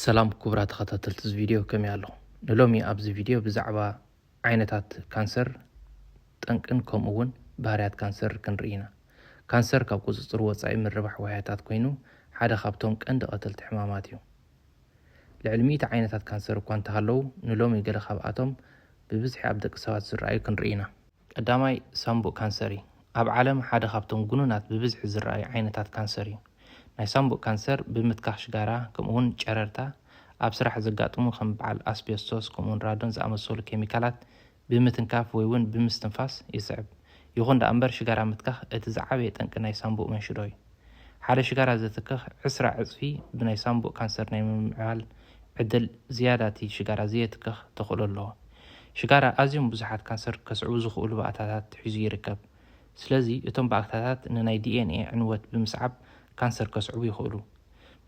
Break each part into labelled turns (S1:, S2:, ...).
S1: ሰላም ኩቡራ ተኸታተልቲ እዚ ቪድዮ ከመይ ኣለኹም ንሎሚ ኣብዚ ቪድዮ ብዛዕባ ዓይነታት ካንሰር ጠንቅን ከምኡ እውን ባህርያት ካንሰር ክንርኢ ኢና ካንሰር ካብ ቁፅፅር ወፃኢ ምርባሕ ዋህያታት ኮይኑ ሓደ ካብቶም ቀንዲ ቀተልቲ ሕማማት እዩ ልዕሊ ሚእቲ ዓይነታት ካንሰር እኳ እንተሃለዉ ንሎሚ ገለ ካብኣቶም ብብዝሒ ኣብ ደቂ ሰባት ዝረኣዩ ክንርኢ ኢና ቀዳማይ፣ ሳምቡእ ካንሰር እዩ። ኣብ ዓለም ሓደ ካብቶም ግኑናት ብብዝሒ ዝረኣዩ ዓይነታት ካንሰር እዩ። ናይ ሳምቡእ ካንሰር ብምትካኽ ሽጋራ ከምኡ'ውን ጨረርታ፣ ኣብ ስራሕ ዘጋጥሙ ከም በዓል ኣስቤስቶስ ከምኡ'ውን ራዶን ዝኣመሰሉ ኬሚካላት ብምትንካፍ ወይ'ውን ብምስትንፋስ ይስዕብ። ይኹን ደኣ'ምበር ሽጋራ ምትካኽ እቲ ዝዓበየ ጠንቂ ናይ ሳምቡእ መንሽዶ እዩ። ሓደ ሽጋራ ዘትክኽ ዕስራ ዕጽፊ ብናይ ሳንቡእ ካንሰር ናይ ምምዕባል ዕድል ዝያዳ እቲ ሽጋራ ዘየትክኽ ተኽእሎ ኣለዎ። ሽጋራ ኣዝዮም ብዙሓት ካንሰር ከስዕቡ ዝኽእሉ ባእታታት ሒዙ ይርከብ። ስለዚ እቶም ባእታታት ንናይ ዲኤንኤ ዕንወት ብምስዓብ ካንሰር ከስዕቡ ይኽእሉ።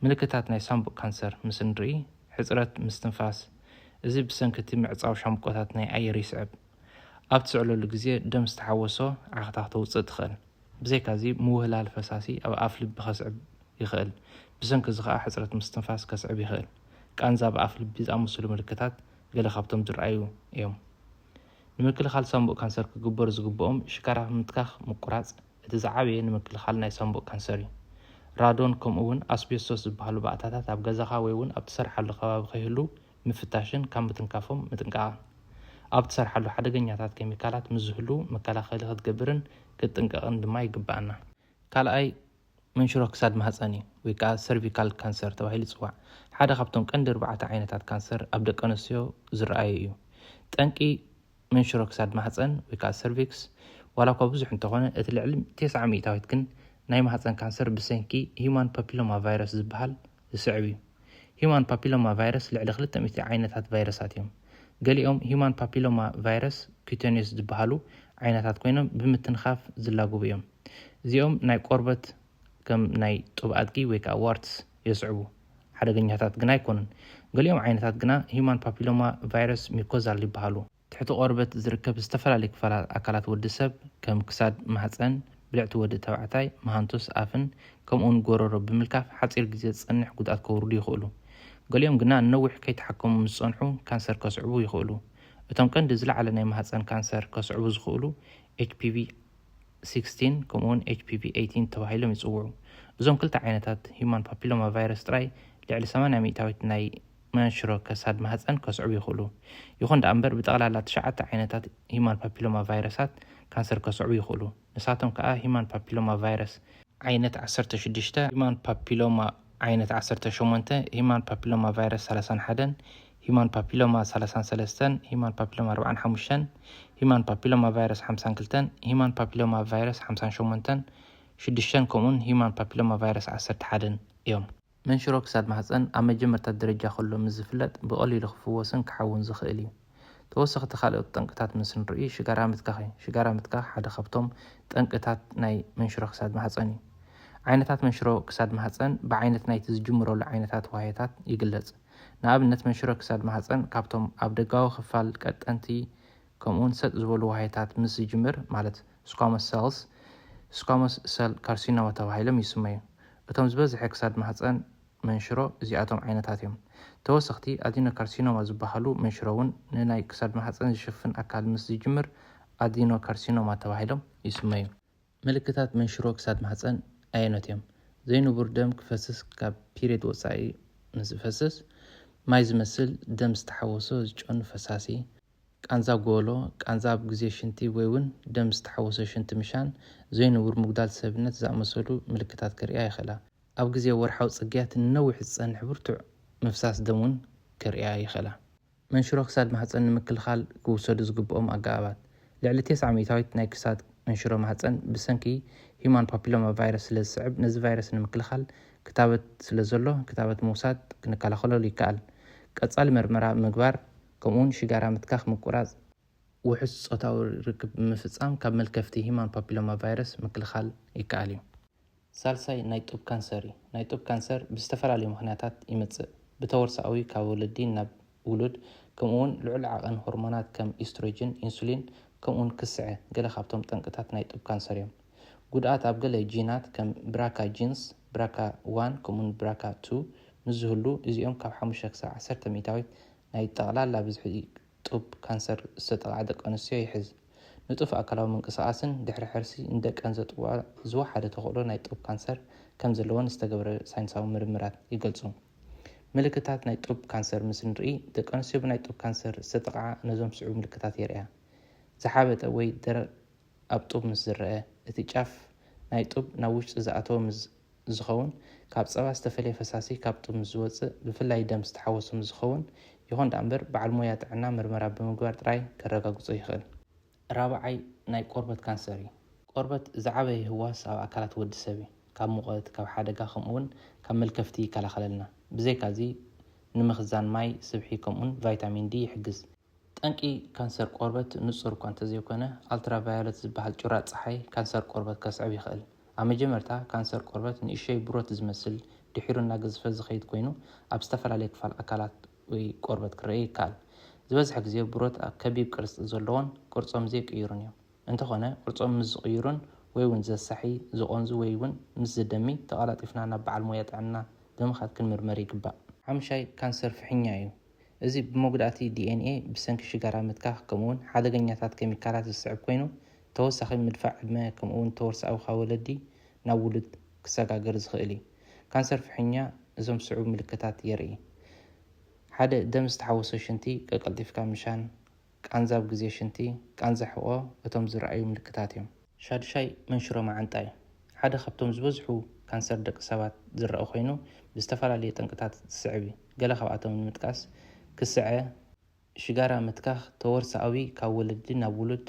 S1: ምልክታት ናይ ሳንቡእ ካንሰር ምስ እንርኢ፣ ሕጽረት ምስትንፋስ፣ እዚ ብሰንኪ እቲ ምዕጻው ሻምብቆታት ናይ ኣየር ይስዕብ። ኣብ ትስዕለሉ ግዜ ደም ዝተሓወሶ ዓኽታኽ ተውጽእ ትኽእል። ብዘይካዚ ምውህላል ፈሳሲ ኣብ ኣፍ ልቢ ከስዕብ ይኽእል፣ ብሰንኪ እዚ ኸኣ ሕጽረት ምስትንፋስ ከስዕብ ይኽእል። ቃንዛ ኣብ ኣፍ ልቢ ዝኣመሰሉ ምልክታት ገለ ካብቶም ዝርኣዩ እዮም። ንምክልኻል ሳንቡእ ካንሰር ክግበሩ ዝግብኦም ሽካራፍ ምትካኽ ምቁራጽ እቲ ዝዓበየ ንምክልኻል ናይ ሳንቡእ ካንሰር እዩ። ራዶን ከምኡ'ውን ኣስቤስቶስ ዝበሃሉ ባእታታት ኣብ ገዛኻ ወይ'ውን ኣብ ትሰርሓሉ ከባቢ ከይህልው ምፍታሽን ካብ ምትንካፎም ምጥንቃቕን። ኣብ እትሰርሓሉ ሓደገኛታት ኬሚካላት ምስ ዝህልዉ መከላኸሊ ክትገብርን ክትጥንቀቕን ድማ ይግብኣና። ካልኣይ መንሽሮ ክሳድ ማህጸን እዩ ወይ ከኣ ሰርቪካል ካንሰር ተባሂሉ ይጽዋዕ። ሓደ ካብቶም ቀንዲ ኣርባዕተ ዓይነታት ካንሰር ኣብ ደቀንስትዮ ዝረኣዩ እዩ። ጠንቂ መንሽሮ ክሳድ ማህጸን ወይ ከኣ ሰርቪክስ፣ ዋላ እኳ ብዙሕ እንተኾነ እቲ ልዕሊ ቴስዓ ሚእታዊት ግን ናይ ማህጸን ካንሰር ብሰንኪ ሂዩማን ፓፒሎማ ቫይረስ ዝበሃል ዝስዕብ እዩ። ሂዩማን ፓፒሎማ ቫይረስ ልዕሊ ክልተ ሚእቲ ዓይነታት ቫይረሳት እዮም። ገሊኦም ሂዩማን ፓፒሎማ ቫይረስ ኩተንዮስ ዝበሃሉ ዓይነታት ኮይኖም ብምትንኻፍ ዝላግቡ እዮም። እዚኦም ናይ ቆርበት ከም ናይ ጡብ ኣድጊ ወይ ከኣ ዋርትስ፣ የስዕቡ። ሓደገኛታት ግና ኣይኮኑን። ገሊኦም ዓይነታት ግና ሂዩማን ፓፒሎማ ቫይረስ ሚኮዛል ይበሃሉ። ትሕቲ ቆርበት ዝርከብ ዝተፈላለዩ ክፋላት ኣካላት ወዲ ሰብ ከም ክሳድ፣ ማህጸን፣ ብልዕቲ ወዲ ተባዕታይ፣ መሃንቱስ፣ ኣፍን ከምኡውን ጎረሮ ብምልካፍ ሓጺር ግዜ ዝጸንሕ ጉድኣት ከውርዱ ይኽእሉ። ገሊኦም ግና ንነዊሕ ከይተሓከሙ ምስ ዝጸንሑ ካንሰር ከስዕቡ ይኽእሉ። እቶም ቀንዲ ዝለዓለ ናይ ማህጸን ካንሰር ከስዕቡ ዝኽእሉ ኤችፒቪ፣ 16 ከምኡ'ውን ኤችፒቪ ኤይቲን ተባሂሎም ይጽውዑ። እዞም ክልተ ዓይነታት ሁማን ፓፒሎማ ቫይረስ ጥራይ ልዕሊ ሰማንያ ሚእታዊት ናይ መንሽሮ ከሳድ ማህጸን ከስዕቡ ይኽእሉ። ይኹን ደኣ እምበር ብጠቕላላ ትሽዓተ ዓይነታት ሁማን ፓፒሎማ ቫይረሳት ካንሰር ከስዕቡ ይኽእሉ። ንሳቶም ከኣ ሁማን ፓፒሎማ ቫይረስ፣ ዓይነት ዓሰርተ ሽዱሽተ፣ ሁማን ፓፒሎማ፣ ዓይነት ዓሰርተ ሸሞንተ፣ ሁማን ፓፒሎማ ቫይረስ ሰላሳን ሓደን፣ ሂዩማን ፓፒሎማ ሰላሳን ሰለስተን፣ ሂዩማን ፓፒሎማ ኣርባዓን ሓሙሽተን፣ ሂዩማን ፓፒሎማ ቫይረስ ሓምሳን ክልተን፣ ሂዩማን ፓፒሎማ ቫይረስ ሓምሳን ሸሞንተን፣ ሽዱሽተን፣ ከምኡውን ሂዩማን ፓፒሎማ ቫይረስ ዓሰርተ ሓደን እዮም። መንሽሮ ክሳድ ማህጸን ኣብ መጀመርታ ደረጃ ከሎ ምስ ዝፍለጥ ብቐሊሉ ክፍወስን ክሓውን ዝኽእል እዩ። ተወሰኽቲ ካልኦት ጠንቅታት ምስ ንርኢ ሽጋራ ምትካኽ እዩ። ሽጋራ ምትካኽ ሓደ ካብቶም ጠንቅታት ናይ መንሽሮ ክሳድ ማህጸን እዩ። ዓይነታት መንሽሮ ክሳድ ማህጸን ብዓይነት ናይቲ ዝጅምረሉ ዓይነታት ዋህዮታት ይግለጽ። ንኣብነት መንሽሮ ክሳድ ማህጸን ካብቶም ኣብ ደጋዊ ክፋል ቀጠንቲ ከምኡውን ሰጥ ዝበሉ ዋህዮታት ምስ ዝጅምር ማለት ስኳሞስ ሰልስ ስኳሞስ ሰል ካርሲኖማ ተባሂሎም ይስመዩ። እቶም ዝበዝሐ ክሳድ ማህጸን መንሽሮ እዚኣቶም ዓይነታት እዮም። ተወሰኽቲ ኣዲኖካርሲኖማ ዝበሃሉ መንሽሮ እውን ንናይ ክሳድ ማህጸን ዝሽፍን ኣካል ምስ ዝጅምር ኣዲኖካርሲኖማ ተባሂሎም ይስመዩ። ምልክታት መንሽሮ ክሳድ ማህጸን ኣየኖት እዮም? ዘይንቡር ደም ክፈስስ ካብ ፒርየድ ወጻኢ ምስ ዝፈስስ፣ ማይ ዝመስል ደም ዝተሓወሶ ዝጨኑ ፈሳሲ፣ ቃንዛ ጎሎ፣ ቃንዛ ኣብ ግዜ ሽንቲ ወይ'ውን ደም ዝተሓወሶ ሽንቲ ምሻን ዘይንቡር ምጉዳል ሰብነት ዝኣመሰሉ ምልክታት ከርእያ ይኽእላ። ኣብ ግዜ ወርሓዊ ጽግያት ንነዊሕ ዝጸንሕ ብርቱዕ ምፍሳስ ደም'ውን ከርእያ ይኽእላ። መንሽሮ ክሳድ ማህጸን ንምክልኻል ክውሰዱ ዝግብኦም ኣገባባት። ልዕሊ ቴስዓ ሚእታዊት ናይ ክሳድ መንሽሮ ማህጸን ብሰንኪ ሂዩማን ፓፒሎማ ቫይረስ ስለ ዝስዕብ ነዚ ቫይረስ ንምክልኻል ክታበት ስለ ዘሎ ክታበት ምውሳድ ክንከላኸለሉ ይከኣል። ቀጻሊ መርመራ ምግባር ከምኡውን ሽጋራ ምትካኽ ምቁራጽ። ውሑስ ጾታዊ ርክብ ብምፍጻም ካብ መልከፍቲ ሂማን ፓፒሎማ ቫይረስ ምክልኻል ይከኣል እዩ። ሳልሳይ ናይ ጡብ ካንሰር እዩ። ናይ ጡብ ካንሰር ብዝተፈላለዩ ምኽንያታት ይመጽእ። ብተወርሶኣዊ ካብ ወለዲ ናብ ውሉድ ከምኡውን ልዑል ዓቐን ሆርሞናት ከም ኢስትሮጅን፣ ኢንሱሊን ከምኡውን ክስዐ ገለ ካብቶም ጠንቅታት ናይ ጡብ ካንሰር እዮም። ጉድኣት ኣብ ገለ ጂናት ከም ብራካ ጂንስ፣ ብራካ ዋን ከምኡውን ብራካ ቱ፣ ምስ ዝህሉ እዚኦም ካብ ሓሙሽተ ክሳብ ዓሰርተ ሚእታዊት ናይ ጠቕላላ ብዝሒ ጡብ ካንሰር ዝተጠቕዓ ደቂ ኣንስትዮ ይሕዝ። ንጡፍ ኣካላዊ ምንቅስቓስን ድሕሪ ሕርሲ ንደቀን ዘጥብዋ ዝወሓደ ተኽእሎ ናይ ጡብ ካንሰር ከም ዘለወን ዝተገብረ ሳይንሳዊ ምርምራት ይገልጹ። ምልክታት ናይ ጡብ ካንሰር ምስ እንርኢ፣ ደቂ ኣንስትዮ ብናይ ጡብ ካንሰር ዝተጠቕዓ ነዞም ዝስዕቡ ምልክታት የርእያ። ዝሓበጠ ወይ ደረቕ ኣብ ጡብ ምስ ዝረኣ፣ እቲ ጫፍ ናይ ጡብ ናብ ውሽጢ ዝኣተወ ምስ ዝኸውን ካብ ፀባ ዝተፈለየ ፈሳሲ ካብ ጥርሙዝ ዝወፅእ ብፍላይ ደም ዝተሓወሶ ምስ ዝኸውን ይኹን ደኣ እምበር በዓል ሞያ ጥዕና ምርመራ ብምግባር ጥራይ ከረጋግፆ ይኽእል። ራብዓይ ናይ ቆርበት ካንሰር እዩ። ቆርበት ዝዓበየ ህዋስ ኣብ ኣካላት ወዲ ሰብ እዩ። ካብ ሙቐት፣ ካብ ሓደጋ ከምኡ እውን ካብ መልከፍቲ ይከላኸለልና። ብዘይካ እዚ ንምኽዛን ማይ፣ ስብሒ ከምኡ እውን ቫይታሚን ዲ ይሕግዝ። ጠንቂ ካንሰር ቆርበት ንጹር እኳ እንተዘይኰነ፣ ኣልትራቫዮለት ዝበሃል ጩራ ጸሓይ ካንሰር ቆርበት ከስዕብ ይኽእል። ኣብ መጀመርታ፣ ካንሰር ቆርበት ንእሽቶይ ብሮት ዝመስል፣ ድሒሩ እናገዝፈ ዝኸይድ ኰይኑ፣ ኣብ ዝተፈላለየ ክፋል ኣካላት ወይ ቆርበት ክረኣ ይከኣል። ዝበዝሐ ግዜ ብሮት ከቢብ ቅርጺ ዘለዎን ቅርጾም ዘይቅይሩን እዮም። እንተዀነ፣ ቅርጾም ምስ ዝቕይሩን ወይ'ውን ዘሳሒ፣ ዝቖንዙ ወይ'ውን ምስ ዝደሚ፣ ተቐላጢፍና ናብ በዓል ሞያ ጥዕና ብምኻድ ክንምርመር ይግባእ። ሓሙሻይ፣ ካንሰር ፍሕኛ እዩ። እዚ ብመጉዳእቲ ዲኤንኤ፣ ብሰንኪ ሽጋራ ምትካኽ፣ ከምኡ'ውን ሓደገኛታት ኬሚካላት ዝስዕብ ኰይኑ፣ ተወሳኺ ምድፋእ ዕድመ ከምኡ'ውን ተወርሶኣዊ ካብ ወለዲ ናብ ውሉድ ክሰጋገር ዝኽእል እዩ። ካንሰር ፍሕኛ እዞም ዝስዕቡ ምልክታት የርኢ። ሓደ፣ ደም ዝተሓወሶ ሽንቲ ቀቀልጢፍካ ምሻን ቃንዛ ኣብ ግዜ ሽንቲ፣ ቃንዛ ሕቖ እቶም ዝርኣዩ ምልክታት እዮም። ሻዱሻይ መንሽሮ መዓንጣ እዩ። ሓደ ካብቶም ዝበዝሑ ካንሰር ደቂ ሰባት ዝረኣ ኮይኑ ብዝተፈላለዩ ጠንቅታት ዝስዕብ እዩ። ገለ ካብኣቶም ንምጥቃስ፣ ክስዐ፣ ሽጋራ ምትካኽ፣ ተወርሶኣዊ ካብ ወለዲ ናብ ውሉድ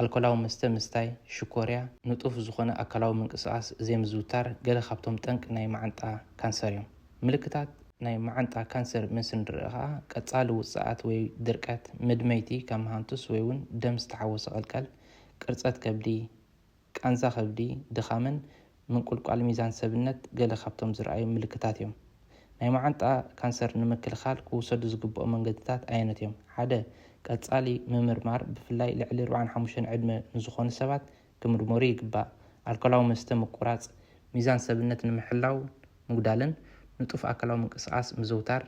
S1: ኣልኮላዊ መስተ ምስታይ፣ ሽኮርያ፣ ንጡፍ ዝኾነ ኣካላዊ ምንቅስቓስ ዘይምዝውታር ገለ ካብቶም ጠንቂ ናይ መዓንጣ ካንሰር እዮም። ምልክታት ናይ መዓንጣ ካንሰር ምስ ንርእ ከኣ ቀጻሊ ውጽኣት ወይ ድርቀት፣ ምድመይቲ ከም ሃንቱስ ወይ እውን ደም ዝተሓወሰ ቀልቀል፣ ቅርጸት ከብዲ፣ ቃንዛ ከብዲ፣ ድኻምን ምንቁልቋል ሚዛን ሰብነት ገለ ካብቶም ዝርኣዩ ምልክታት እዮም። ናይ መዓንጣ ካንሰር ንምክልኻል ክውሰዱ ዝግብኦም መንገድታት ኣየኖት እዮም? ሓደ፣ ቀጻሊ ምምርማር፣ ብፍላይ ልዕሊ ኣርብዓን ሓሙሽተን ዕድመ ንዝኾኑ ሰባት ክምርመሩ ይግባእ። ኣልኮላዊ መስተ ምቁራጽ። ሚዛን ሰብነት ንምሕላውን ምጉዳልን ንጡፍ ኣካላዊ ምንቅስቓስ ምዝውታር።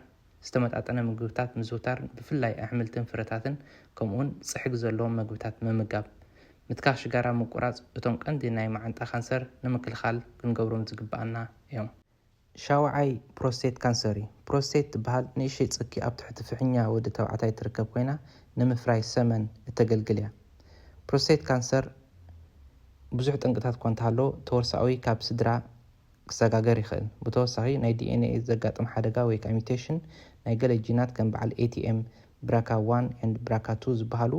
S1: ዝተመጣጠነ ምግብታት ምዝውታር ብፍላይ ኣሕምልትን ፍረታትን ከምኡውን ጽሕጊ ዘለዎም መግብታት ምምጋብ። ምትካኽ ሽጋራ ምቁራጽ እቶም ቀንዲ ናይ መዓንጣ ካንሰር ንምክልኻል ክንገብሮም ዝግብኣና እዮም። ሻውዓይ ፕሮስቴት ካንሰር እዩ። ፕሮስቴት ትበሃል ንእሽተይ ጽኪ ኣብ ትሕቲ ፍሕኛ ወዲ ተባዕታይ ትርከብ ኮይና ንምፍራይ ሰመን እተገልግል እያ። ፕሮስቴት ካንሰር ብዙሕ ጠንቅታት'ኳ እንተሃለዎ ተወርሶኣዊ ካብ ስድራ ክሰጋገር ይኽእል። ብተወሳኺ፣ ናይ ዲኤንኤ ዘጋጥም ሓደጋ ወይ ከኣ ሚውቴሽን ናይ ገለ ጂናት ከም በዓል ኤቲኤም ብራካ ዋን ኤንድ ብራካ ቱ ዝበሃሉ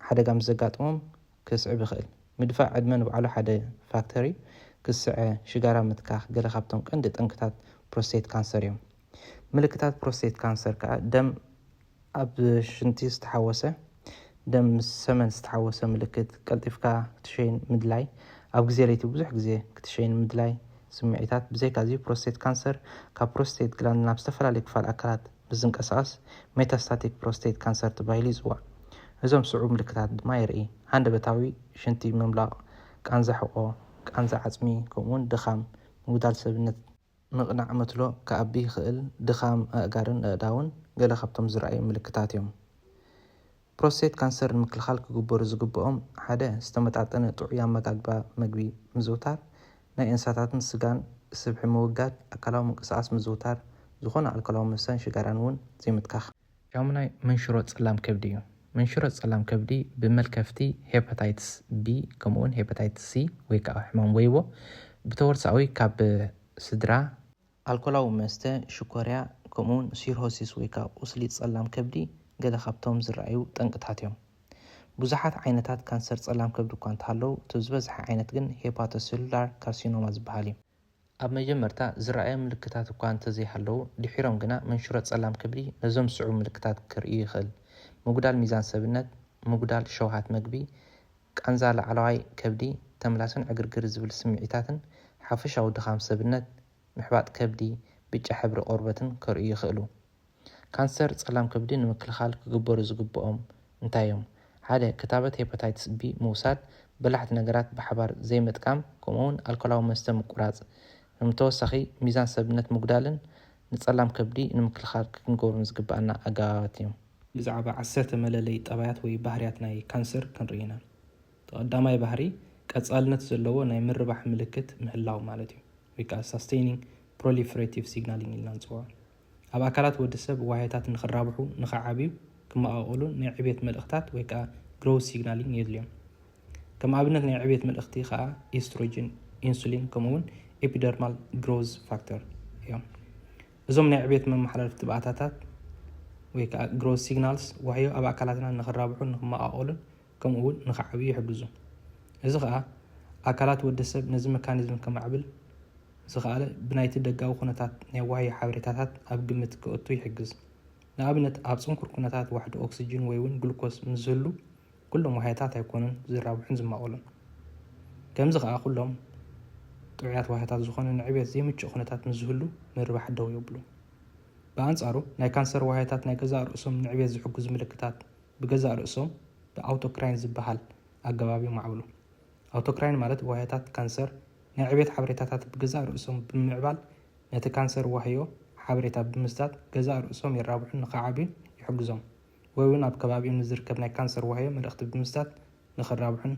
S1: ሓደጋ ምስ ዘጋጥሞም ከስዕብ ይኽእል። ምድፋእ ዕድመ ንባዕሉ ሓደ ፋክተር እዩ። ክስዐ፣ ሽጋራ ምትካኽ ገለ ካብቶም ቀንዲ ጠንቅታት ፕሮስቴት ካንሰር እዮም። ምልክታት ፕሮስቴት ካንሰር ከኣ ደም ኣብ ሽንቲ ዝተሓወሰ ደም ምስ ሰመን ዝተሓወሰ ምልክት፣ ቀልጢፍካ ክትሸይን ምድላይ፣ ኣብ ግዜ ለይቲ ብዙሕ ግዜ ክትሸይን ምድላይ፣ ስምዒታት፣ ብዘይካዚ ፕሮስቴት ካንሰር ካብ ፕሮስቴት ግላንድ ናብ ዝተፈላለየ ክፋል ኣካላት ምስ ዝንቀሳቐስ ሜታስታቲክ ፕሮስቴት ካንሰር ተባሂሉ ይጽዋዕ። እዞም ስዑብ ምልክታት ድማ የርኢ፣ ሃንደበታዊ ሽንቲ ምምላቕ፣ ቃንዛ ሕቖ፣ ቃንዛ ዓጽሚ ከምኡ'ውን ድኻም፣ ምጉዳል ሰብነት፣ ምቕናዕ መትሎ ክኣቢ ይኽእል፣ ድኻም ኣእጋርን ኣእዳውን ገለ ካብቶም ዝርኣዩ ምልክታት እዮም። ፕሮስቴት ካንሰር ንምክልኻል ክግበሩ ዝግብኦም፣ ሓደ ዝተመጣጠነ ጥዑይ ኣመጋግባ መግቢ ምዝውታር፣ ናይ እንስሳታትን ስጋን ስብሒ ምውጋድ፣ ኣካላዊ ምንቅስቓስ ምዝውታር፣ ዝኾነ ኣልኮላዊ መስተን ሽጋራን እውን ዘይምትካኽ። ሻሙናይ መንሽሮ ጸላም ከብዲ እዩ። መንሽሮ ጸላም ከብዲ ብመልከፍቲ ሄፓታይትስ ቢ ከምኡ'ውን ሄፓታይትስ ሲ ወይ ከኣ ሕማም ወይቦ ብተወርሳኣዊ ካብ ስድራ፣ ኣልኮላዊ መስተ፣ ሽኮርያ፣ ከምኡ'ውን ሲርሆሲስ ወይ ከኣ ቁስሊ ጸላም ከብዲ ገለ ካብቶም ዝረኣዩ ጠንቅታት እዮም። ብዙሓት ዓይነታት ካንሰር ጸላም ከብዲ እኳ እንተሃለዉ እቲ ዝበዝሐ ዓይነት ግን ሄፓቶሰሉላር ካርሲኖማ ዝበሃል እዩ። ኣብ መጀመርታ ዝረኣዩ ምልክታት እኳ እንተዘይሃለዉ፣ ድሒሮም ግና መንሽሮ ጸላም ከብዲ ነዞም ዝስዕቡ ምልክታት ከርእዩ ይኽእል፣ ምጉዳል ሚዛን ሰብነት፣ ምጉዳል ሸውሃት መግቢ፣ ቃንዛ ላዕለዋይ ከብዲ፣ ተምላስን ዕግርግር ዝብል ስምዒታትን፣ ሓፈሻዊ ድኻም ሰብነት፣ ምሕባጥ ከብዲ፣ ብጫ ሕብሪ ቆርበትን ከርእዩ ይኽእሉ። ካንሰር ጸላም ከብዲ ንምክልኻል ክግበሩ ዝግብኦም እንታይ እዮም? ሓደ፣ ክታበት ሄፓታይትስ ቢ ምውሳድ፣ በላሕቲ ነገራት ብሓባር ዘይምጥቃም፣ ከምኡ'ውን ኣልኮላዊ መስተ ምቁራጽ። ከም ተወሳኺ፣ ሚዛን ሰብነት ምጉዳልን ንጸላም ከብዲ ንምክልኻል ክንገብሮም ዝግብኣና ኣገባባት እዮም። ብዛዕባ ዓሰርተ መለለዪ ጠባያት ወይ ባህርያት ናይ ካንሰር ክንርኢ ኢና። እቲ ቀዳማይ ባህሪ፣ ቀጻልነት ዘለዎ ናይ ምርባሕ ምልክት ምህላው ማለት እዩ፣ ወይ ከኣ ሳስተይኒንግ ፕሮሊፈረቲቭ ሲግናሊንግ ኢልና ንጽውዖ። ኣብ ኣካላት ወዲ ሰብ ዋህዮታት ንክራብሑ፣ ንክዓብዩ፣ ክመቓቐሉን ናይ ዕብየት መልእኽታት ወይ ከኣ ግሮውዝ ሲግናሊን የድልዮም። ከም ኣብነት ናይ ዕብየት መልእኽቲ ከኣ ኢስትሮጅን፣ ኢንሱሊን ከምኡ'ውን ኤፒደርማል ግሮውዝ ፋክተር እዮም። እዞም ናይ ዕብየት መመሓላለፍቲ ባእታታት ወይ ከኣ ግሮውዝ ሲግናልስ ዋህዮ ኣብ ኣካላትና ንክራብሑን ንክመቓቐሉን ከምኡ'ውን ንኽዓብዩ ይሕግዙ። እዚ ኸኣ ኣካላት ወዲ ሰብ ነዚ መካኒዝም ከማዕብል ዝኸኣለ ብናይቲ ደጋዊ ኩነታት ናይ ዋህዮ ሓበሬታታት ኣብ ግምት ከእቱ ይሕግዝ። ንኣብነት ኣብ ጽንኩር ኩነታት ዋሕዲ ኦክስጅን ወይ'ውን ግሉኮስ ምስ ዝህሉ ኩሎም ዋህዮታት ኣይኮኑን ዝራብሑን ዝማቐሉን። ከምዚ ኸኣ ኩሎም ጥዑያት ዋህዮታት ዝኾነ ንዕብየት ዘይምቹእ ኩነታት ምስ ዝህሉ ምርባሕ ደው የብሉ። ብኣንጻሩ ናይ ካንሰር ዋህዮታት ናይ ገዛእ ርእሶም ንዕብየት ዝሕግዙ ምልክታት ብገዛእ ርእሶም ብኣውቶክራይን ዝበሃል ኣገባብ የማዕብሉ። ኣውቶክራይን ማለት ዋህዮታት ካንሰር ናይ ዕቤት ሓበሬታታት ብገዛእ ርእሶም ብምምዕባል ነቲ ካንሰር ዋህዮ ሓበሬታ ብምስጣት ገዛእ ርእሶም የራብሑን ንኽዓብዩን ይሕግዞም ወይ'ውን ኣብ ከባቢኡ ንዝርከብ ናይ ካንሰር ዋህዮ መልእኽቲ ብምስጣት ንኽራብሑን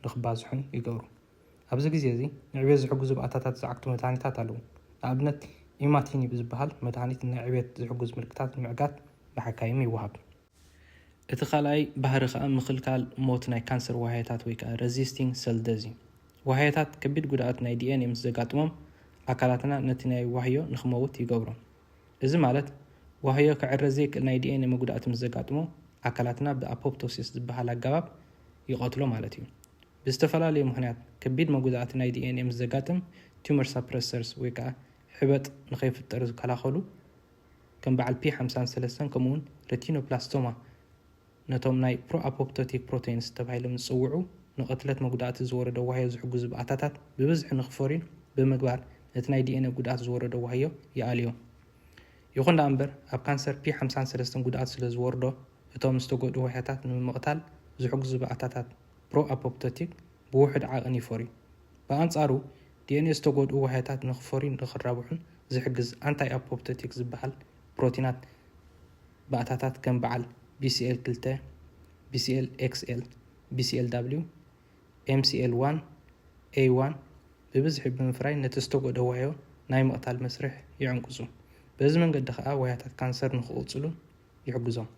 S1: ንኽባዝሑን ይገብሩ። ኣብዚ ግዜ እዚ ንዕቤት ዝሕግዙ ብኣታታት ዝዓግቱ መድሃኒታት ኣለዉ። ንኣብነት ኢማቲኒብ ዝበሃል መድሃኒት ንዕቤት ዝሕግዙ ምልክታት ንምዕጋት ብሓካይም ይወሃብ። እቲ ካልኣይ ባህሪ ከኣ ምኽልካል ሞት ናይ ካንሰር ዋህያታት ወይ ከኣ ረዚስቲንግ ሰል ደዝ እዩ። ዋህያታት ከቢድ ጉድኣት ናይ ዲኤንኤ ምስ ዘጋጥሞም ኣካላትና ነቲ ናይ ዋህዮ ንኽመውት ይገብሮ። እዚ ማለት ዋህዮ ክዕረ ዘይክእል ናይ ዲኤንኤ መጉዳእቲ ምስ ዘጋጥሞ ኣካላትና ብኣፖፕቶሲስ ዝበሃል ኣገባብ ይቐትሎ ማለት እዩ። ብዝተፈላለዩ ምኽንያት ከቢድ መጉዳእቲ ናይ ዲኤንኤ ምስ ዘጋጥም ቱመር ሳፕረሰርስ ወይ ከኣ ሕበጥ ንኸይፍጠር ዝከላኸሉ ከም በዓል ፒ ሓምሳን ሰለስተን ከምኡውን ሬቲኖብላስቶማ ነቶም ናይ ፕሮኣፖፕቶቲክ ፕሮተይንስ ተባሂሎም ዝጽውዑ ንቕትለት መጉዳእቲ ዝወረዶ ዋህዮ ዝሕግዙ ባእታታት ብብዝሒ ንኽፈርዩ ብምግባር ነቲ ናይ ዲኤንኤ ጉድኣት ዝወረዶ ዋህዮ ይኣልዮ። ይኹን ደኣ እምበር ኣብ ካንሰር ፒ ሓምሳን ሰለስተን ጉድኣት ስለ ዝወርዶ እቶም ዝተጎድኡ ዋህዮታት ንምምቕታል ዝሕግዙ ባእታታት ፕሮኣፖፕቶቲክ ብውሑድ ዓቕን ይፈርዩ። ብኣንጻሩ ዲኤንኤ ዝተጎድኡ ዋህያታት ንክፈርዩን ንክራብሑን ዝሕግዝ ኣንታይ-ኣፖፕቶቲክ ዝበሃል ፕሮቲናት ባእታታት ከም በዓል ቢሲኤል ክልተ፣ ቢሲኤል ኤክስኤል፣ ቢሲኤል ዳብሊው፣ ኤምሲኤል ዋን፣ ኤይ ዋን ብብዝሒ ብምፍራይ ነቲ ዝተጎድኦ ዋህዮ ናይ ምቕታል መስርሕ ይዕንቅጹ። በዚ መንገዲ ከኣ ዋህያታት ካንሰር ንክቕጽሉን ይሕግዞም።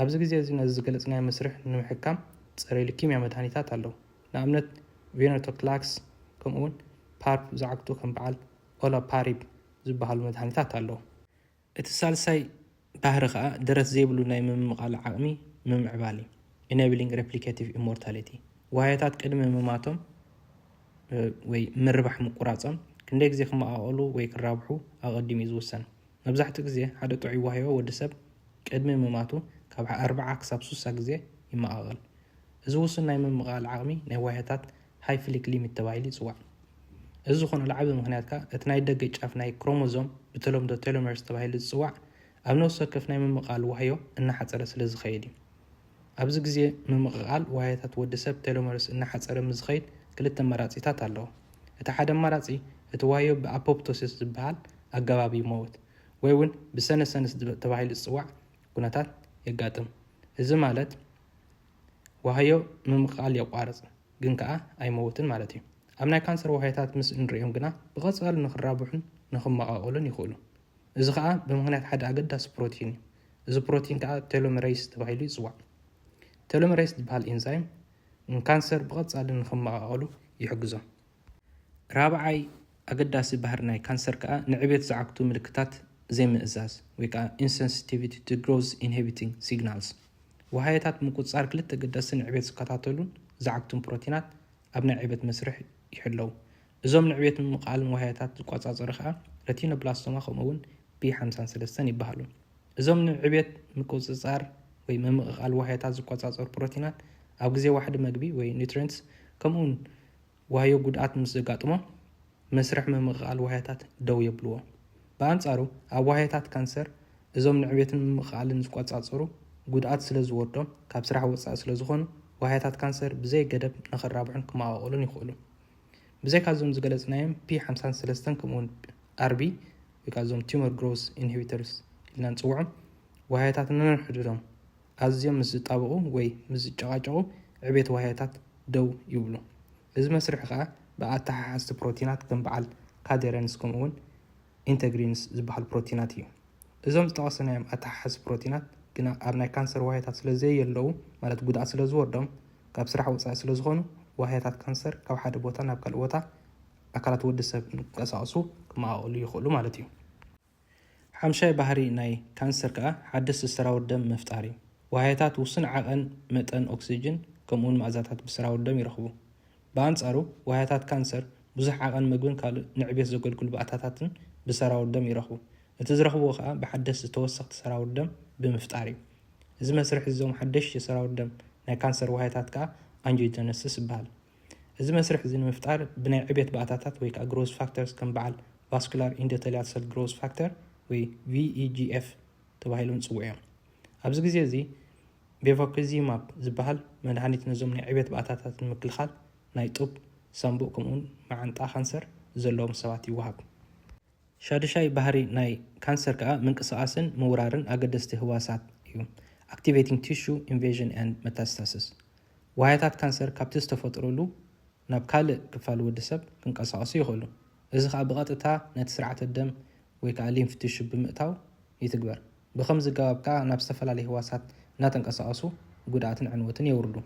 S1: ኣብዚ ግዜ እዚ ነዚ ዝገለጽናዮ መስርሕ ንምሕካም ጸረ-ሉኪምያ መድሃኒታት ኣለዉ። ንኣብነት ቬነርቶክላክስ ከምኡ'ውን ፓርፕ ዝዓግቱ ከም በዓል ኦላፓሪብ ዝበሃሉ መድሃኒታት ኣለዉ። እቲ ሳልሳይ ባህሪ ከኣ ደረት ዘይብሉ ናይ ምምቓል ዓቕሚ ምምዕባል እዩ፣ Enabling Replicative Immortality። ዋህዮታት ቅድሚ ምማቶም ወይ ምርባሕ ምቁራጾም ክንደይ ግዜ ክመቓቐሉ ወይ ክራብሑ ኣቐዲሙ እዩ ዝውሰን። መብዛሕትኡ ግዜ ሓደ ጥዑይ ዋህዮ ወዲ ሰብ ቅድሚ ምማቱ ካብ ኣርብዓ ክሳብ ሱሳ ግዜ ይመቓቐል። እዚ ውሱን ናይ ምምቕቓል ዓቕሚ ናይ ዋህዮታት ሃይፍሊክ ሊሚት ተባሂሉ ይጽዋዕ። እዚ ዝኾነሉ ዓቢ ምኽንያት ከኣ እቲ ናይ ደገ ጫፍ ናይ ክሮሞዞም፣ ብተለምዶ ቴሎመርስ ተባሂሉ ዝጽዋዕ፣ ኣብ ነፍሲ ወከፍ ናይ ምምቕቓል ዋህዮ እናሓጸረ ስለ ዝኸይድ እዩ። ኣብዚ ግዜ ምምቕቓል ዋህዮታት ወዲ ሰብ ቴሎመርስ እናሓጸረ ምስ ዝኸይድ ክልተ ኣማራጺታት ኣለዉ። እቲ ሓደ ኣማራጺ እቲ ዋህዮ ብኣፖፕቶሲስ ዝበሃል ኣገባብ ይመውት ወይ'ውን ብሰነሰንስ ተባሂሉ ዝጽዋዕ ኩነታት የጋጥም። እዚ ማለት። ዋህዮ ምምቕቓል የቋርጽ፣ ግን ከኣ ኣይመውትን ማለት እዩ። ኣብ ናይ ካንሰር ዋህዮታት ምስ እንርእዮም ግና ብቐጻሊ ንኽራብሑን ንኽመቓቐሉን ይኽእሉ። እዚ ከኣ ብምኽንያት ሓደ ኣገዳሲ ፕሮቲን እዩ። እዚ ፕሮቲን ከኣ ቴሎመረይስ ተባሂሉ ይጽዋዕ። ቴሎመረይስ ዝበሃል ኢንዛይም ንካንሰር ብቐጻሊ ንኽመቓቐሉ ይሕግዞም። ራብዓይ ኣገዳሲ ባህሪ ናይ ካንሰር ከኣ ንዕቤት ዝዓግቱ ምልክታት ዘይምእዛዝ ወይ ከኣ Insensitivity to Growth Inhibiting Signals ዋህዮታት ምቁጽጻር ክልተ ኣገደስቲ ንዕቤት ዝከታተሉን ዝዓግቱን ፕሮቲናት ኣብ ናይ ዕቤት መስርሕ ይሕለዉ። እዞም ንዕቤት ምምቕቓልን ዋህዮታት ዝቆጻጸሩ ከኣ ረቲኖብላስቶማ ከምኡ'ውን B53 ይበሃሉ። እዞም ንዕቤት ምቁጽጻር ወይ ምምቕቓል ዋህዮታት ዝቆጻጸሩ ፕሮቲናት ኣብ ግዜ ዋሕዲ መግቢ ወይ ኒውትሪየንትስ ከምኡ'ውን ዋህዮ ጉድኣት ምስ ዘጋጥሞ፣ መስርሕ ምምቕቓል ዋህያታት ደው የብልዎ። ብኣንጻሩ፣ ኣብ ዋህያታት ካንሰር፣ እዞም ንዕቤትን ምምቕቓልን ዝቈጻጸሩ፣ ጉድኣት ስለ ዝወርዶም፣ ካብ ስራሕ ወጻኢ ስለ ዝዀኑ፣ ዋህያታት ካንሰር ብዘይ ገደብ ንኽራብሑን ክመቓቐሉን ይኽእሉ። ብዘይካ እዞም ዝገለጽናዮም ፒ ሓምሳን ሰለስተን ከምኡውን ኣርቢ፣ ወይ ከኣ እዞም ቱመር ግሮውዝ ኢንሂቢተርስ ኢልና እንጽውዖም ዋህያታት ነንሕድሕዶም፣ ኣዝዮም ምስ ዝጣበቑ ወይ ምስ ዝጨቓጨቑ ዕቤት ዋህዮታት ደው ይብሉ። እዚ መስርሕ ከኣ ብኣተሓሓዝቲ ፕሮቲናት ከም በዓል ካዴረንስ ከምኡ'ውን ኢንተግሪንስ ዝበሃሉ ፕሮቲናት እዩ። እዞም ዝጠቐስናዮም ኣተሓሓዝቲ ፕሮቲናት ግና ኣብ ናይ ካንሰር ዋህዮታት ስለ ዘየለዉ ማለት ጉድኣት ስለ ዝወርዶም ካብ ስራሕ ወጻኢ ስለ ዝኾኑ ዋህዮታት ካንሰር ካብ ሓደ ቦታ ናብ ካልእ ቦታ ኣካላት ወዲ ሰብ ክንቀሳቐሱ ክመቓቐሉ ይኽእሉ ማለት እዩ። ሓምሻይ ባህሪ ናይ ካንሰር ከኣ ሓደስቲ ሰራውር ደም ምፍጣር እዩ። ዋህዮታት ውሱን ዓቐን መጠን ኦክስጅን ከምኡውን መኣዛታት ብሰራውር ደም ይረኽቡ። ብኣንጻሩ ዋህዮታት ካንሰር ብዙሕ ዓቐን መግብን ካልእ ንዕብዮት ዘገልግሉ ባእታታትን ብሰራውር ደም ይረኽቡ። እቲ ዝረኽብዎ ከኣ ብሓደስቲ ተወሰኽቲ ሰራውር ደም ብምፍጣር እዩ። እዚ መስርሕ እዚ እዞም ሓደሽቲ ሰራውር ደም ናይ ካንሰር ዋህዮታት ከኣ ኣንጂዮጀነሲስ ይበሃል። እዚ መስርሕ እዚ ንምፍጣር ብናይ ዕብየት ባእታታት ወይ ከኣ ግሮዝ ፋክተርስ ከም በዓል ቫስኩላር ኢንዶተልያል ሰል ግሮዝ ፋክተር ወይ VEGF ተባሂሎም ዝጽውዑ እዮም። ኣብዚ ግዜ እዚ ቤቫኩዚማብ ዝበሃል መድሃኒት ነዞም ናይ ዕብየት ባእታታት ንምክልኻል ናይ ጡብ፣ ሳምቡእ ከምኡውን መዓንጣ ካንሰር ዘለዎም ሰባት ይወሃብ። ሻዱሻይ ባህሪ ናይ ካንሰር ከኣ ምንቅስቓስን ምውራርን ኣገደስቲ ህዋሳት እዩ፣ Activating Tissue Invasion and Metastasis። ዋህያታት ካንሰር ካብቲ ዝተፈጥሩሉ ናብ ካልእ ክፋል ወዲ ሰብ ክንቀሳቐሱ ይኽእሉ፣ እዚ ከኣ ብቐጥታ ነቲ ስርዓተ ደም ወይ ከኣ ሊምፍ ቲሹ ብምእታው ይትግበር። ብኸምዚ ኣገባብ ከኣ ናብ ዝተፈላለዩ ህዋሳት እናተንቀሳቐሱ ጉድኣትን ዕንወትን የውርዱ።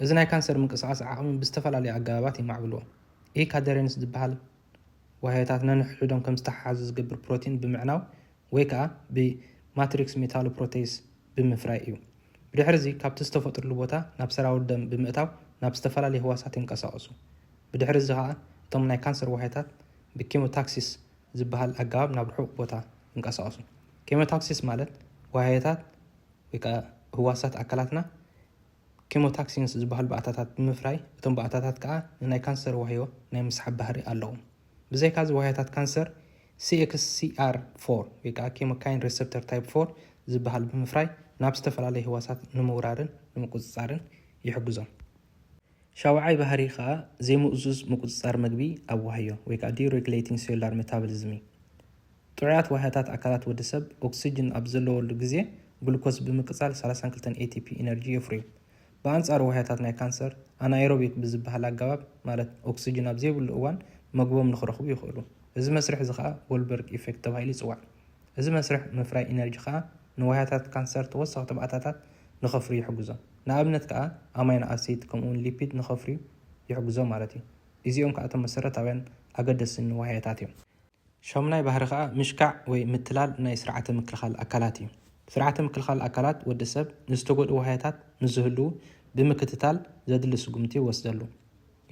S1: እዚ ናይ ካንሰር ምንቅስቓስ ዓቕሚ ብዝተፈላለዩ ኣገባባት የማዕብልዎ፣ ኢሂ ካደሬንስ ዝበሃል፣ ዋህዮታት ነንሕድሕዶም ከም ዝተሓሓዙ ዝገብር ፕሮቲን ብምዕናው ወይ ከኣ ብማትሪክስ ሜታሎፕሮቴይስ ብምፍራይ እዩ። ብድሕርዚ ካብቲ ዝተፈጥሩሉ ቦታ ናብ ሰራውር ደም ብምእታው ናብ ዝተፈላለዩ ህዋሳት ይንቀሳቐሱ። ብድሕርዚ ከኣ እቶም ናይ ካንሰር ዋህዮታት ብኬሞታክሲስ ዝበሃል ኣገባብ ናብ ርሑቕ ቦታ ይንቀሳቐሱ። ኬሞታክሲስ ማለት ዋህዮታት ወይ ከኣ ህዋሳት ኣካላትና ኬሞታክሲንስ ዝበሃሉ ባእታታት ብምፍራይ፣ እቶም ባእታታት ከኣ ንናይ ካንሰር ዋህዮ ናይ ምስሓብ ባህሪ ኣለዎም። ብዘይካዚ ዋህዮታት ካንሰር ሲኤክስሲኣር ፎር ወይ ከኣ ኬሞካይን ሬሰፕተር ታይፕ ፎር ዝበሃል ብምፍራይ ናብ ዝተፈላለዩ ህዋሳት ንምውራርን ንምቁጽጻርን ይሕግዞም። ሻውዓይ ባህሪ ከኣ ዘይምእዙዝ ምቁጽጻር መግቢ ኣብ ዋህዮ ወይ ከኣ ዲሬግሌቲንግ ሴሉላር ሜታብሊዝም እዩ። ጥዑያት ዋህያታት ኣካላት ወዲ ሰብ ኦክስጅን ኣብ ዘለወሉ ግዜ ግሉኮስ ብምቅጻል ሰላሳን ክልተን ATP ኢነርጂ የፍርዩ። ብኣንጻሩ ዋህያታት ናይ ካንሰር ኣናኤሮቢክ ብዝበሃል ኣገባብ ማለት ኦክስጅን ኣብ ዘይብሉ እዋን መግቦም ንክረኽቡ ይኽእሉ። እዚ መስርሕ እዚ ከኣ ጎልበርግ ኢፌክት ተባሂሉ ይጽዋዕ። እዚ መስርሕ ምፍራይ ኢነርጂ ከኣ ንዋህያታት ካንሰር ተወሰኽቲ ባእታታት ንከፍርዩ ይሕግዞም። ንኣብነት ከኣ ኣማይኖ ኣሲድ ከምኡ'ውን ሊፒድ ንከፍርዩ ይሕግዞም ማለት እዩ። ኢዚኦም ከኣ እቶም መሰረታውያን ኣገደስን ዋህያታት እዮም። ሻሙናይ ባህሪ ከኣ ምሽካዕ ወይ ምትላል ናይ ስርዓተ ምክልኻል ኣካላት እዩ። ስርዓተ ምክልኻል ኣካላት ወዲ ሰብ ንዝተጎድኡ ዋህያታት ምስ ዝህልዉ ብምክትታል ዘድሊ ስጉምቲ ይወስደሉ።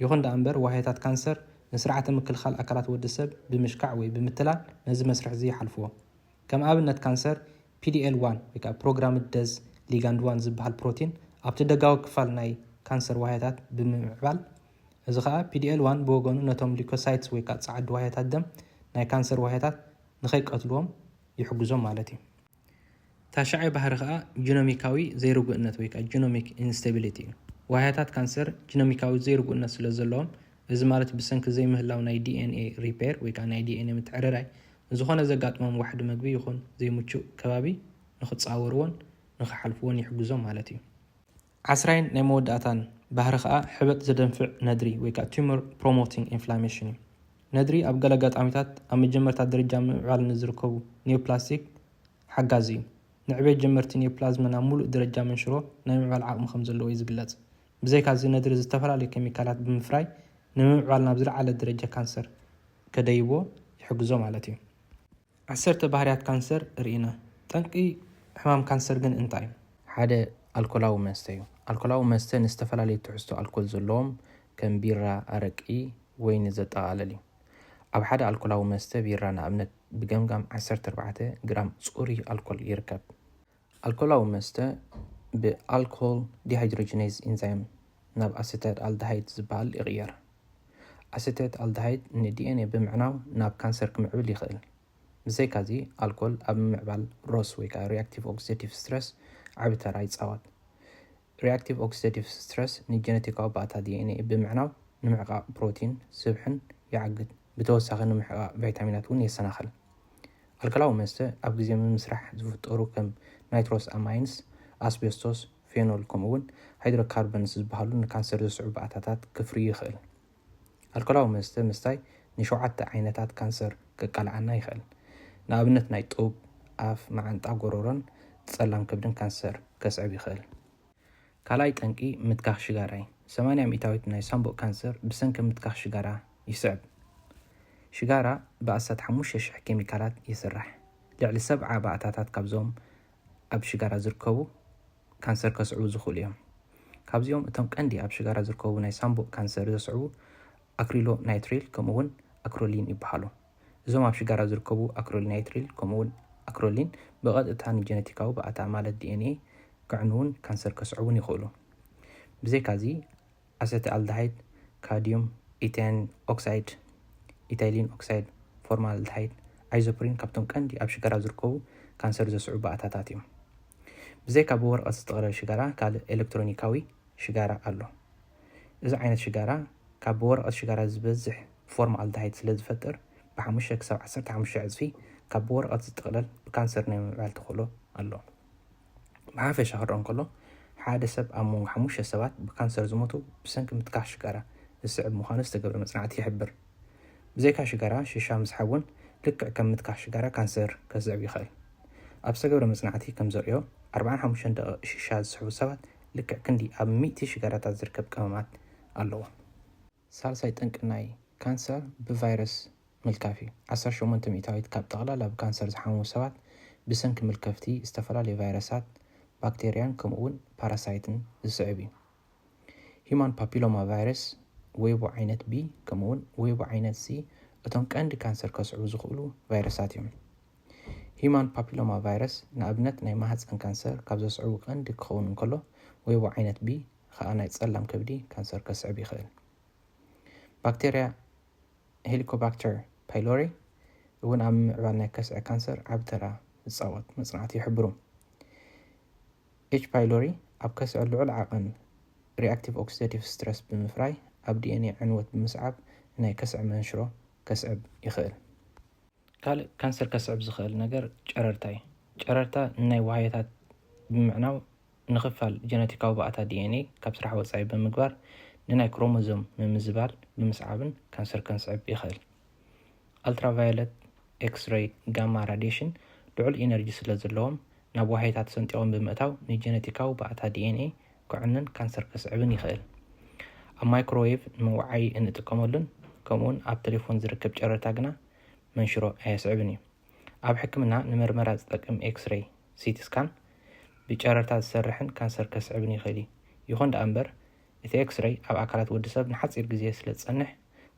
S1: ይኹን ደኣ እምበር ዋህያታት ካንሰር ንስርዓተ ምክልኻል ኣካላት ወዲ ሰብ ብምሽካዕ ወይ ብምትላል ነዚ መስርሕ'ዚ ይሓልፍዎ። ከም ኣብነት ካንሰር ፒዲኤል ዋን ወይ ከኣ ፕሮግራምድ ደዝ ሊጋንድ ዋን ዝበሃል ፕሮቲን ኣብቲ ደጋዊ ክፋል ናይ ካንሰር ዋህያታት ብምምዕባል እዚ ከኣ ፒዲኤል ዋን ብወገኑ ነቶም ሊኮሳይትስ ወይ ከኣ ጸዓዱ ዋህያታት ደም ናይ ካንሰር ዋህያታት ንኸይቀትሉዎም ይሕግዞም ማለት እዩ። ታሽዓይ ባህሪ ከኣ ጂኖሚካዊ ዘይርጉእነት ወይ ከኣ ጂኖሚክ ኢንስታቢሊቲ እዩ። ዋህያታት ካንሰር ጂኖሚካዊ ዘይርጉእነት ስለ ዘለዎም እዚ ማለት ብሰንኪ ዘይምህላው ናይ ዲኤንኤ ሪፔር ወይ ከኣ ናይ ዲኤንኤ ምትዕርራይ ንዝኾነ ዘጋጥሞም ዋሕዲ መግቢ ይኹን ዘይምቹእ ከባቢ ንኽጻወርዎን ንኽሓልፍዎን ይሕግዞም ማለት እዩ። ዓስራይን ናይ መወዳእታን ባህሪ ከኣ ሕበጥ ዘደንፍዕ ነድሪ ወይ ከኣ tumor promoting inflammation እዩ። ነድሪ ኣብ ገለ ኣጋጣሚታት ኣብ መጀመርታ ደረጃ ምምዕባል ንዝርከቡ ኒዮፕላስቲክ ሓጋዚ እዩ። ንዕቤት ጀመርቲ ኒዮፕላዝመ ናብ ምሉእ ደረጃ መንሽሮ ናይ ምምዕባል ዓቕሚ ከም ዘለዎ እዩ ዝግለጽ። ብዘይካዚ ነድሪ ዝተፈላለዩ ኬሚካላት ብምፍራይ ንምምዕባል ናብ ዝለዓለ ደረጃ ካንሰር ከደይቦ ይሕግዞ ማለት እዩ። ዓሰርተ ባህርያት ካንሰር ርኢና። ጠንቂ ሕማም ካንሰር ግን እንታይ እዩ? ሓደ ኣልኮላዊ መስተ እዩ። ኣልኮላዊ መስተ ንዝተፈላለዩ ትሕዝቶ ኣልኮል ዘለዎም ከም ቢራ፣ ኣረቂ፣ ወይኒ ዘጠቓልል እዩ። ኣብ ሓደ ኣልኮላዊ መስተ ቢራ ንኣብነት ብገምጋም ዓሰርተ ኣርባዕተ ግራም ጽሩይ ኣልኮል ይርከብ። ኣልኮላዊ መስተ ብኣልኮል ዲሃይድሮጂነይዝ ኢንዛይም ናብ ኣሰታት ኣልደሃይድ ዝበሃል ይቕየር። ኣሰታት ኣልደሃይድ ንዲኤንኤ ብምዕናው ናብ ካንሰር ክምዕብል ይኽእል። ብዘይካዚ፣ ኣልኮል ኣብ ምምዕባል ሮስ ወይ ከዓ ሪኣክቲቭ ኦክሲደቲቭ ስትረስ ዓቢ ተራ ይጻወት። ሪኣክቲቭ ኦክሲደቲቭ ስትረስ ንጀነቲካዊ ባእታ ዲኤንኤ ብምዕናው ንምሕቃቕ ፕሮቲን፣ ስብሕን፣ ይዓግት። ብተወሳኺ ንምሕቃቕ ቫይታሚናት እውን የሰናኽል። ኣልከላዊ መስተ ኣብ ግዜ ምምስራሕ ዝፍጠሩ ከም ናይትሮስ ኣማይንስ፣ ኣስቤስቶስ፣ ፌኖል ከምኡ'ውን ሃይድሮካርበንስ ዝበሃሉ ንካንሰር ዘስዕቡ ባእታታት ክፍርዩ ይኽእል። ኣልኮላዊ መስተ ምስታይ ንሸውዓተ ዓይነታት ካንሰር ከቃልዓና ይኽእል። ንኣብነት ናይ ጡብ፣ ኣፍ፣ መዓንጣ፣ ጎሮሮን ጸላም ከብድን ካንሰር ከስዕብ ይኽእል። ካልኣይ ጠንቂ ምትካኽ ሽጋራ እዩ። ሰማንያ ሚእታዊት ናይ ሳንቡእ ካንሰር ብሰንኪ ምትካኽ ሽጋራ ይስዕብ። ሽጋራ ብኣስታት ሓሙሽተ ሽሕ ኬሚካላት ይስራሕ። ልዕሊ ሰብዓ ባእታታት ካብዞም ኣብ ሽጋራ ዝርከቡ፣ ካንሰር ከስዕቡ ዝኽእሉ እዮም። ካብዚኦም እቶም ቀንዲ ኣብ ሽጋራ ዝርከቡ ናይ ሳንቡእ ካንሰር ዘስዕቡ ኣክሪሎናይትሪል ከምኡ'ውን ኣክሮሊን ይበሃሉ። እዞም ኣብ ሽጋራ ዝርከቡ ኣክሪሎናይትሪል ከምኡ'ውን ኣክሮሊን ብቐጥታ ንጀነቲካዊ ባእታ ማለት ዲኤንኤ ከዕንዉን ካንሰር ከስዕቡን ይኽእሉ። ብዘይካ'ዚ ኣሰተኣልደሃይድ፣ ካድዩም፣ ኢተይን ኦክሳይድ፣ ኢታይሊን ኦክሳይድ፣ ፎርማልደሃይድ፣ ኣይዞፕሪን ካብቶም ቀንዲ ኣብ ሽጋራ ዝርከቡ ካንሰር ዘስዕቡ ባእታታት እዮም። ብዘይካ ብወረቐት ዝተቐረበ ሽጋራ ካልእ ኤለክትሮኒካዊ ሽጋራ ኣሎ። እዚ ዓይነት ሽጋራ ካብ ብወረቐት ሽጋራ ዝበዝሕ ፎርማልደሃይድ ስለ ዝፈጥር ብሓሙሽተ ክሳብ ዓሰርተ ሓሙሽተ ዕጽፊ ካብ ብወረቐት ዝጥቕለል ብካንሰር ናይ ምምዕባል ተኽእሎ ኣሎ። ብሓፈሻ ክረኣ እንከሎ፣ ሓደ ሰብ ኣብ መንጎ ሓሙሽተ ሰባት ብካንሰር ዝሞቱ ብሰንኪ ምትካኽ ሽጋራ ዝስዕብ ምዃኑ ዝተገብረ መጽናዕቲ ይሕብር። ብዘይካ ሽጋራ፣ ሽሻ ምስሓብ እውን ልክዕ ከም ምትካኽ ሽጋራ ካንሰር ከስዕብ ይኽእል። ኣብ ዝተገብረ መጽናዕቲ ከም ዘርእዮ፣ ኣርብዓን ሓሙሽተን ደቒቕ ሽሻ ዝስሕቡ ሰባት ልክዕ ክንዲ ኣብ ሚእቲ ሽጋራታት ዝርከብ ቀመማት ኣለዎም። ሳልሳይ ጠንቂ ናይ ካንሰር ብቫይረስ ምልካፍ እዩ። ዓሰርተ ሸሞንተ ሚእታዊት ካብ ጠቕላላ ብካንሰር ዝሓመሙ ሰባት ብሰንኪ ምልከፍቲ ዝተፈላለዩ ቫይረሳት፣ ባክተርያን ከምኡ'ውን ፓራሳይትን ዝስዕብ እዩ። ሂዩማን ፓፒሎማ ቫይረስ፣ ዌቡ ዓይነት ቢ ከምኡ'ውን ዌቡ ዓይነት ሲ እቶም ቀንዲ ካንሰር ከስዕቡ ዝኽእሉ ቫይረሳት እዮም። ሂዩማን ፓፒሎማ ቫይረስ ንኣብነት ናይ ማህጸን ካንሰር ካብ ዘስዕቡ ቀንዲ ክኸውን እንከሎ ዌቡ ዓይነት ቢ ኸኣ ናይ ጸላም ከብዲ ካንሰር ከስዕብ ይኽእል። ባክተርያ ሄሊኮባክተር ፓይሎሪ እውን ኣብ ምምዕባል ናይ ከስዐ ካንሰር ዓቢ ተራ ዝጻወት መጽናዕቲ ይሕብሩ። ኤች ፓይሎሪ ኣብ ከስዐ ልዑል ዓቐን ሪኣክቲቭ ኦክሲደቲቭ ስትረስ ብምፍራይ ኣብ ዲኤንኤ ዕንወት ብምስዓብ ናይ ከስዐ መንሽሮ ከስዕብ ይኽእል። ካልእ ካንሰር ከስዕብ ዝኸእል ነገር ጨረርታ እዩ። ጨረርታ ንናይ ዋህዮታት ብምዕናው ንክፋል ጀነቲካዊ ባእታ DNA ካብ ስራሕ ወጻኢ ብምግባር ንናይ ክሮሞዞም ምምዝባል ብምስዓብን ካንሰር ከንስዕብ ይኸእል። ኣልትራቫዮለት፣ ኤክስረይ፣ ጋማ ራድየሽን ልዑል ኢነርጂ ስለዘለዎም ናብ ዋህዮታት ሰንጢቖም ብምእታው ንጀነቲካዊ ባእታ ዲኤንኤ ከዕኑን ካንሰር ከስዕብን ይኽእል። ኣብ ማይክሮዌቭ ንመወዓዪ እንጥቀመሉን ከምኡውን ኣብ ተሌፎን ዝርከብ ጨረርታ ግና መንሽሮ ኣየስዕብን እዩ። ኣብ ሕክምና ንመርመራ ዝጠቅም ኤክስሬይ፣ ሲቲ ስካን፣ ብጨረርታ ዝሰርሕን ካንሰር ከስዕብን ይኽእል እዩ። ይኹን ደኣ እምበር፣ እቲ ኤክስሬይ ኣብ ኣካላት ወዲ ሰብ ንሓጺር ግዜ ስለ ዝጸንሕ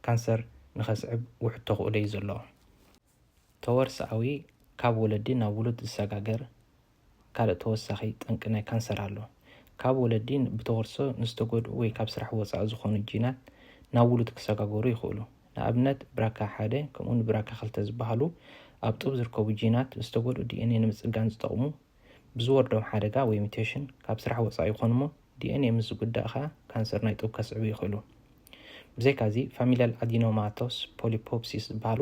S1: ካንሰር ንኸስዕብ ውሑድ ተኽእሎ እዩ ዘለዎ። ተወርሶኣዊ፣ ካብ ወለዲ ናብ ውሉድ ዝሰጋገር ካልእ ተወሳኺ ጠንቂ ናይ ካንሰር ኣሎ። ካብ ወለዲ ብተወርሶ ንዝተጎድኡ ወይ ካብ ስራሕ ወጻኢ ዝኾኑ ጂናት ናብ ውሉድ ክሰጋገሩ ይኽእሉ። ንኣብነት ብራካ ሓደ ከምኡውን ብራካ ክልተ ዝበሃሉ ኣብ ጡብ ዝርከቡ ጂናት ዝተጎድኡ ዲኤንኤ ንምጽጋን ዝጠቕሙ ብዝወርዶም ሓደጋ ወይ ሙቴሽን ካብ ስራሕ ወጻኢ ይኾኑ እሞ ዲኤንኤ ምስ ዝጉዳእ ከኣ ካንሰር ናይ ጡብ ከስዕቡ ይኽእሉ። ብዘይካዚ ፋሚልያል ኣዲኖማቶስ ፖሊፖፕሲስ ዝበሃሉ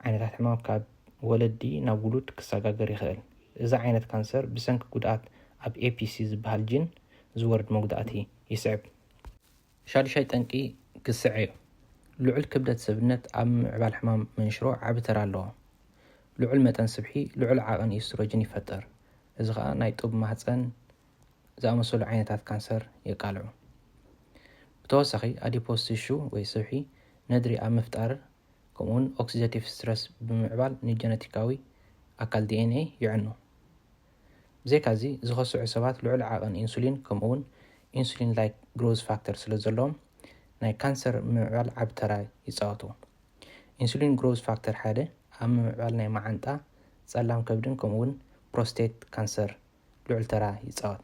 S1: ዓይነታት ሕማም ካብ ወለዲ ናብ ውሉድ ክሰጋገር ይኽእል። እዚ ዓይነት ካንሰር ብሰንኪ ጉድኣት ኣብ ኤፒሲ ዝበሃል ጂን ዝወርድ መጉዳእቲ ይስዕብ። ሻዱሻይ ጠንቂ ግስዐ'ዩ። ልዑል ክብደት ሰብነት ኣብ ምምዕባል ሕማም መንሽሮ ዓቢ ተራ ኣለዎ። ልዑል መጠን ስብሒ ልዑል ዓቕን ኢስትሮጅን ይፈጥር፣ እዚ ኸኣ ናይ ጡብ ማህጸን ዝኣመሰሉ ዓይነታት ካንሰር የቃልዑ። ብተወሳኺ ኣዲፖስ ቲሹ ወይ ስብሒ ነድሪ ኣብ ምፍጣር ከምኡ'ውን ኦክሲደቲቭ ስትረስ ብምምዕባል ንጀነቲካዊ ኣካል ዲኤንኤ የዕኑ። ብዘይካዚ፣ ዝኸስዑ ሰባት ልዑል ዓቐን ኢንሱሊን ከምኡ'ውን ኢንሱሊን-ላይክ ግሮዝ ፋክተር ስለ ዘለዎም፣ ናይ ካንሰር ምምዕባል ዓቢ ተራ ይጻወቱ። ኢንሱሊን ግሮዝ ፋክተር ሓደ ኣብ ምምዕባል ናይ መዓንጣ፣ ጸላም ከብድን ከምኡ'ውን ፕሮስቴት ካንሰር ልዑል ተራ ይጻወት።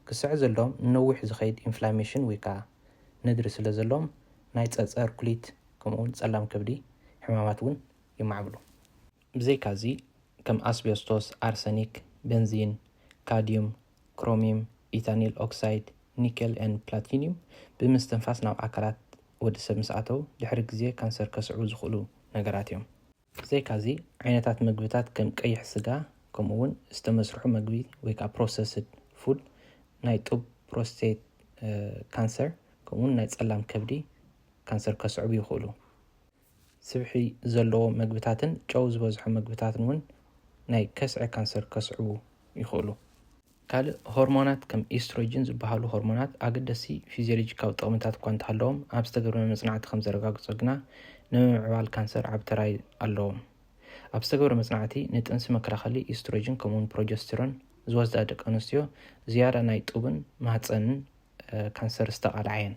S1: ክስዐ ዘለዎም ንነዊሕ ዝኸይድ ኢንፍላሜሽን ወይ ከኣ ነድሪ ስለ ዘለዎም፣ ናይ ጸጸር ኩሊት ከምኡ'ውን ጸላም ከብዲ ሕማማት እውን የማዕብሉ። ብዘይካዚ ከም ኣስቤስቶስ፣ ኣርሰኒክ፣ በንዚን፣ ካድዩም፣ ክሮሚም፣ ኢታኒል ኦክሳይድ፣ ኒኬል and ፕላቲኒዩም ብምስትንፋስ ናብ ኣካላት ወዲ ሰብ ምስ ኣተው ድሕሪ ግዜ ካንሰር ከስዕቡ ዝኽእሉ ነገራት እዮም። ብዘይካዚ ዓይነታት መግብታት ከም ቀይሕ ስጋ ከምኡ እውን ዝተመስርሑ መግቢ ወይ ከዓ ፕሮሰስድ ፉድ ናይ ጡብ ፕሮስቴት ካንሰር ከምኡ እውን ናይ ፀላም ከብዲ ካንሰር ከስዕቡ ይኽእሉ። ስብሒ ዘለዎ መግብታትን ጨው ዝበዝሖ መግብታትን እውን ናይ ከስዐ ካንሰር ከስዕቡ ይኽእሉ። ካልእ ሆርሞናት ከም ኢስትሮጅን ዝበሃሉ ሆርሞናት ኣገደስቲ ፊዝዮሎጂካዊ ጥቕምታት እኳ እንተሃለዎም ኣብ ዝተገብረ መጽናዕቲ ከም ዘረጋግጾ ግና ንምምዕባል ካንሰር ዓቢ ተራ ኣለዎም። ኣብ ዝተገብረ መጽናዕቲ ንጥንሲ መከላኸሊ ኢስትሮጅን ከምኡውን ፕሮጀስቲሮን ዝወስዳ ደቂ ኣንስትዮ ዝያዳ ናይ ጡብን ማህጸንን ካንሰር ዝተቓልዓ እየን።